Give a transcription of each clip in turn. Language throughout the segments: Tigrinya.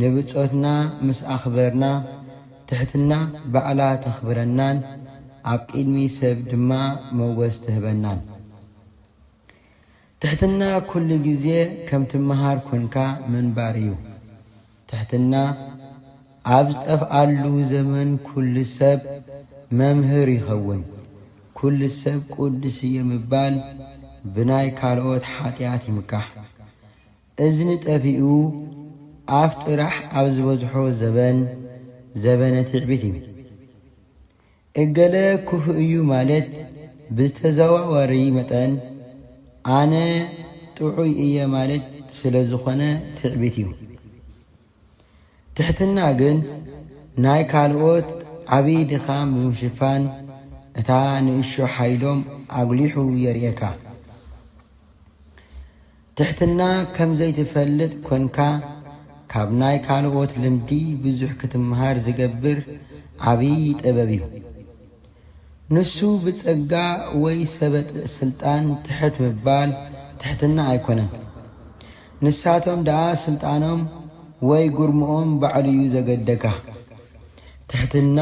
ንብጾትና ምስ ኣኽበርና፣ ትሕትና ባዕላ ተኽብረናን ኣብ ቒድሚ ሰብ ድማ ሞገስ ትህበናን። ትሕትና ኩሉ ግዜ ከም ትመሃር ኮንካ ምንባር እዩ። ትሕትና ኣብ ዝጠፍኣሉ ዘመን ኩሉ ሰብ መምህር ይኸውን። ኩሉ ሰብ ቅዱስ እየ ምባል ብናይ ካልኦት ሓጢኣት ይምካሕ። እዝኒ ጠፊኡ ኣፍ ጥራሕ ኣብ ዝበዝሖ ዘበን ዘበነ ትዕቢት እዩ። እገለ ክፉእ እዩ ማለት ብዝተዘዋዋሪ መጠን ኣነ ጥዑይ እየ ማለት ስለዝኾነ ትዕቢት እዩ። ትሕትና ግን ናይ ካልኦት ዓብይ ድኻም ብምሽፋን እታ ንእሾ ሓይሎም ኣጉሊሑ የርእየካ። ትሕትና ከም ዘይትፈልጥ ኮንካ ካብ ናይ ካልኦት ልምዲ ብዙሕ ክትመሃር ዝገብር ዓብይ ጥበብ እዩ። ንሱ ብጸጋ ወይ ሰበጥ ስልጣን ትሕት ምባል ትሕትና ኣይኮነን። ንሳቶም ደኣ ስልጣኖም ወይ ጉርምኦም ባዕሉ'ዩ ዘገደካ። ትሕትና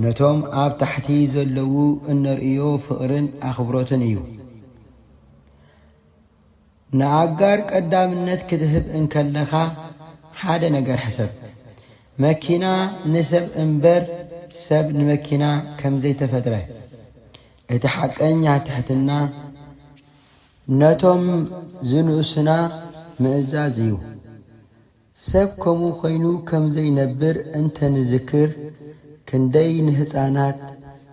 ነቶም ኣብ ታሕቲ ዘለዉ እነርእዮ ፍቕርን ኣኽብሮትን እዩ። ንኣጋር ቀዳምነት ክትህብ እንከለኻ ሓደ ነገር ሕሰብ። መኪና ንሰብ እምበር ሰብ ንመኪና ከም ዘይተፈጥረ። እቲ ሓቀኛ ትሕትና ነቶም ዝንእሱና ምእዛዝ እዩ። ሰብ ከምኡ ኰይኑ ከም ዘይነብር እንተ ንዝክር ክንደይ ንህጻናት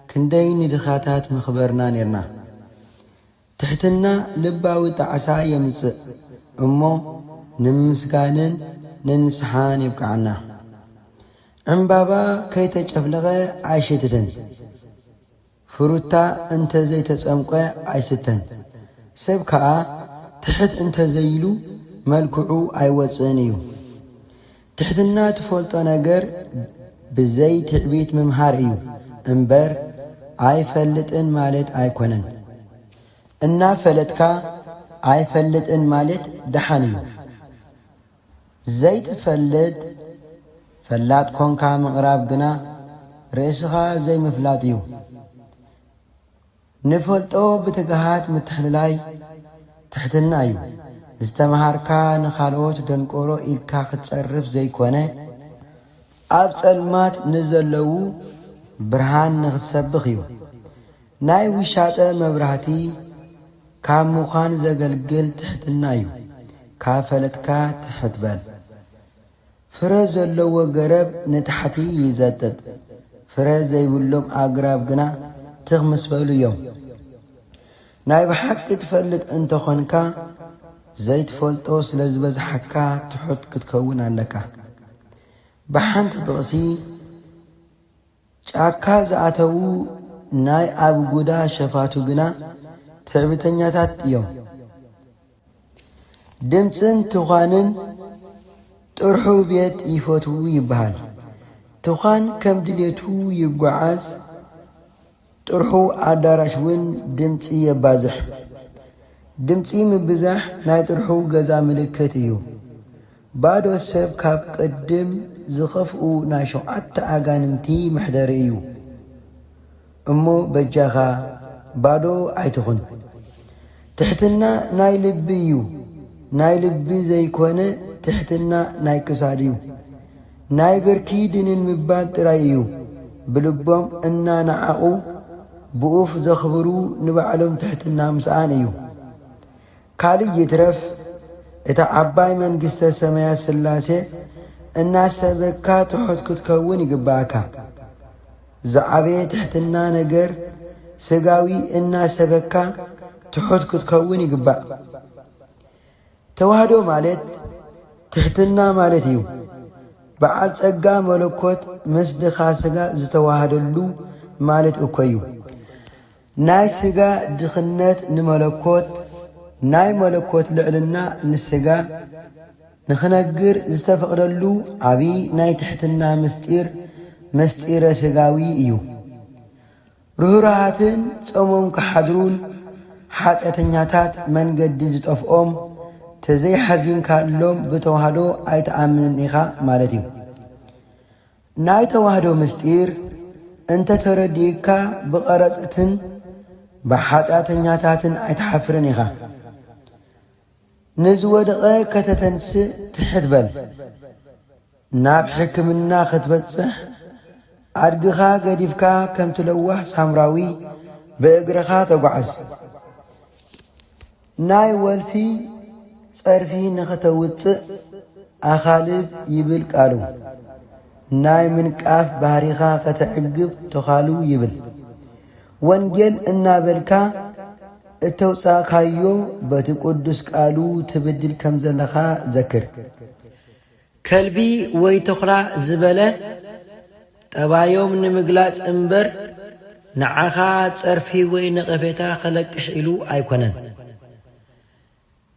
ክንደይ ንድኻታት ምኽበርና ኔርና። ትሕትና ልባዊ ጣዕሳ የምጽእ እሞ ንምምስጋንን ንንስሓን የብቅዓና። ዕምባባ ከይተጨፍለቐ ኣይሽትትን፣ ፍሩታ እንተ ዘይተጸምቈ ኣይስተን፣ ሰብ ከኣ ትሕት እንተ ዘይኢሉ መልክዑ ኣይወጽእን እዩ። ትሕትና ትፈልጦ ነገር ብዘይ ትዕቢት ምምሃር እዩ እምበር ኣይፈልጥን ማለት ኣይኮነን እና ፈለጥካ ኣይፈልጥን ማለት ዳሓን እዩ ዘይትፈልጥ ፈላጥ ኮንካ ምቅራብ ግና ርእስካ ዘይምፍላጥ እዩ ንፈልጦ ብትግሃት ምትሕልላይ ትሕትና እዩ። ዝተመሃርካ ንካልኦት ደንቆሮ ኢልካ ክትጸርፍ ዘይኮነ ኣብ ጸልማት ንዘለዉ ብርሃን ንክትሰብኽ እዩ። ናይ ውሻጠ መብራህቲ ካብ ምዃን ዘገልግል ትሕትና እዩ። ካብ ፈለጥካ ትሕት በል። ፍረ ዘለዎ ገረብ ንታሕቲ ይዘጥጥ፣ ፍረ ዘይብሎም ኣግራብ ግና ትኽ ምስ በሉ እዮም። ናይ ብሓቂ ትፈልጥ እንተ ኾንካ፣ ዘይትፈልጦ ስለ ዝበዝሓካ ትሑት ክትከውን ኣለካ። ብሓንቲ ጥቕሲ፣ ጫካ ዝኣተዉ ናይ ኣብጉዳ ሸፋቱ ግና ትዕቢተኛታት እዮም። ድምጽን ትዃንን ጥርሑ ቤት ይፈትዉ ይበሃል። ትዃን ከም ድሌቱ ይጎዓዝ። ጥርሑ ኣዳራሽ ውን ድምጺ የባዝሕ። ድምጺ ምብዛሕ ናይ ጥርሑ ገዛ ምልክት እዩ። ባዶ ሰብ ካብ ቅድም ዝኸፍኡ ናይ ሸውዓተ ኣጋንንቲ መሕደሪ እዩ። እሞ በጃኻ ባዶ ኣይትኹን። ትሕትና ናይ ልቢ ዩ ናይ ልቢ ዘይኮነ ትሕትና ናይ ክሳድ ዩ ናይ ብርኪ ድንን ምባል ጥራይ እዩ ብልቦም እና ናዓቁ ብኡፍ ዘክብሩ ንባዕሎም ትሕትና ምስኣን እዩ ካልእ ይትረፍ እታ ዓባይ መንግስተ ሰማያት ስላሴ እናሰበካ ትሑት ክትከውን ይግባኣካ ዝዓበየ ትሕትና ነገር ስጋዊ እናሰበካ ትሑት ክትከውን ይግባእ። ተዋህዶ ማለት ትሕትና ማለት እዩ። በዓል ጸጋ መለኮት ምስ ድኻ ስጋ ዝተዋሃደሉ ማለት እኮዩ። ናይ ስጋ ድኽነት ንመለኮት፣ ናይ መለኮት ልዕልና ንስጋ፣ ንኽነግር ዝተፈቕደሉ ዓቢ ናይ ትሕትና ምስጢር ምስጢረ ስጋዊ እዩ። ርህሩሃትን ጸሞም ክሓድሩን ሓጢኣተኛታት መንገዲ ዝጠፍኦም ተዘይሓዚንካሎም ብተዋህዶ ኣይትኣምንን ኢኻ ማለት እዩ። ናይ ተዋህዶ ምስጢር እንተ ተረዲእካ ብቐረጽትን ብሓጢኣተኛታትን ኣይትሓፍርን ኢኻ። ንዝወደቐ ከተተንስእ ትሕት በል። ናብ ሕክምና ክትበጽሕ ኣድግኻ ገዲፍካ ከምቲ ለዋህ ሳምራዊ ብእግርኻ ተጓዓዝ። ናይ ወልፊ ጸርፊ ንኸተውጽእ ኣኻልብ ይብል ቃሉ። ናይ ምንቃፍ ባህሪኻ ከተዕግብ ተዃሉ ይብል። ወንጌል እናበልካ እተውጻእካዮ በቲ ቅዱስ ቃሉ ትብድል ከም ዘለኻ ዘክር። ከልቢ ወይ ተኹላ ዝበለ ጠባዮም ንምግላጽ እምበር ንዓኻ ጸርፊ ወይ ነቐፌታ ከለቅሕ ኢሉ ኣይኮነን።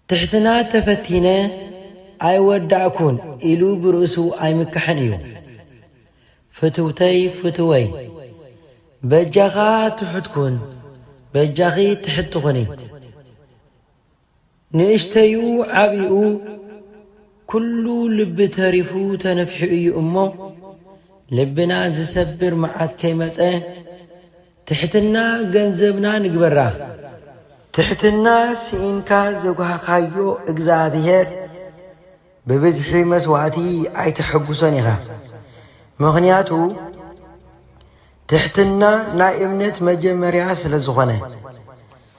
ትሕትና ተፈቲነ ኣይወዳእኩን ኢሉ ብርእሱ ኣይምካሕን እዩ። ፍትውተይ ፍትወይ በጃኻ ትሑት ኩን በጃኺ ትሕቲ ኩኒ። ንእሽተይኡ ዓብይኡ ኩሉ ልቢ ተሪፉ ተነፊሑ እዩ እሞ ልብና ዝሰብር መዓት ከይመፀ ትሕትና ገንዘብና ንግበራ። ትሕትና ስኢንካ ዘጉሃኻዮ እግዝኣብሄር ብብዝሒ መስዋእቲ ኣይተሐጉሶን ኢኻ ምኽንያቱ ትሕትና ናይ እምነት መጀመርያ ስለዝኾነ።